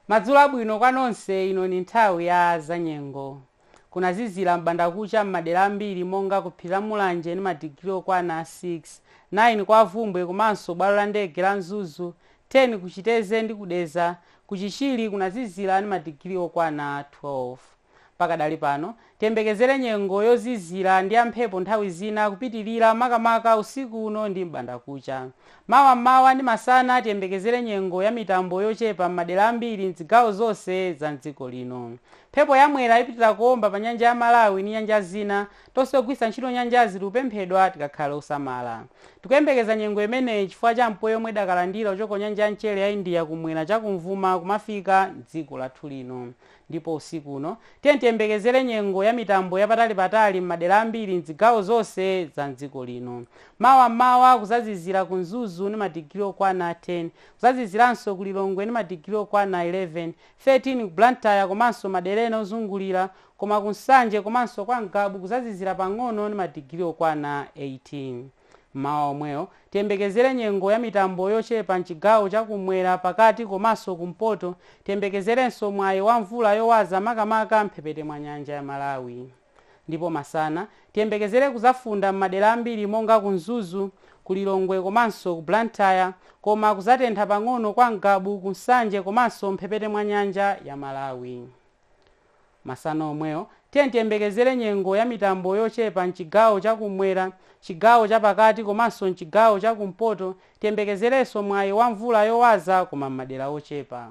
Madzulo abwino kwa nonse ino ni nthawi ya zanyengo. Kunazizira m'bandakucha m'madera ambiri monga ku phiri la Mulanje ndi madigiri okwana 6, 9 kwa Bvumbwe komanso bwalo la ndege la Mzuzu, 10 ku Chitedze ndi ku Dedza. Ku Chichiri kunazizira ndi madigiri okwana 12. Pakadali pano, tiyembekezere nyengo yozizira ndi yamphepo nthawi zina kupitirira makamaka usiku uno ndi m'bandakucha. Mawa m'mawa ndi masana tiyembekezere nyengo yamitambo yochepa m'madera ambiri m'zigawo zonse za m'dziko lino. Mphepo ya Mwera ipitira kuomba pa Nyanja ya Malawi ndi nyanja zina. Tonse ogwiritsa ntchito nyanjazi tikupemphedwa tikakhale osamala. Tikuyembekeza nyengo imeneyi chifukwa cha mpweya omwe idakalandira kuchoka ku Nyanja ya Mchere ya India kumwera chakumvuma kumafika m'dziko lathu lino. Ndipo usiku uno, tiyeni tiyembekezere nyengo ya mitambo yapatali patali m'madera ambiri m'zigawo zonse za m'dziko lino. Mawa m'mawa kuzazizira ku Mzuzu ndi madigiri okwana 10. Kuzaziziranso ku Lilongwe ndi madigiri okwana 11, 13 ku Blantyre komanso madera ena ozungulira, koma ku Nsanje komanso kwa Ngabu kuzazizira pang'ono ndi madigiri okwana 18. M'mawa omwewo, tiyembekezere nyengo ya mitambo yochepa m'chigawo cha kummwera, pakati komanso ku mpoto. Tiyembekezerenso mwayi wa mvula yowaza makamaka m'mphepete mwa nyanja ya Malawi. Ndipo masana, tiyembekezere kuzafunda m'madera ambiri monga ku Mzuzu, ku Lilongwe komanso ku Blantyre, koma kuzatentha pang'ono kwa Ngabu, ku Nsanje komanso m'mphepete mwa nyanja ya Malawi. Masana omwewo, tiyeni tiyembekezere nyengo ya mitambo yochepa m'chigawo cha kummwera, chigawo cha pakati komanso m'chigawo cha kumpoto. Tiyembekezerenso mwayi wa mvula yowaza koma m'madera ochepa.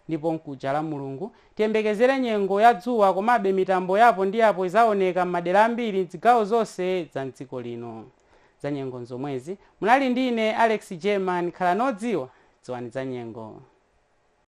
Ndipo mkuja Lamulungu, tiyembekezere nyengo ya dzuwa komabe mitambo ya apo ndi apo idzaoneka m'madera ambiri m'zigawo zonse za m'dziko lino. Za nyengo n'zomwezi. Munali ndi ine Alex German. Khalani odziwa. Dziwani za nyengo.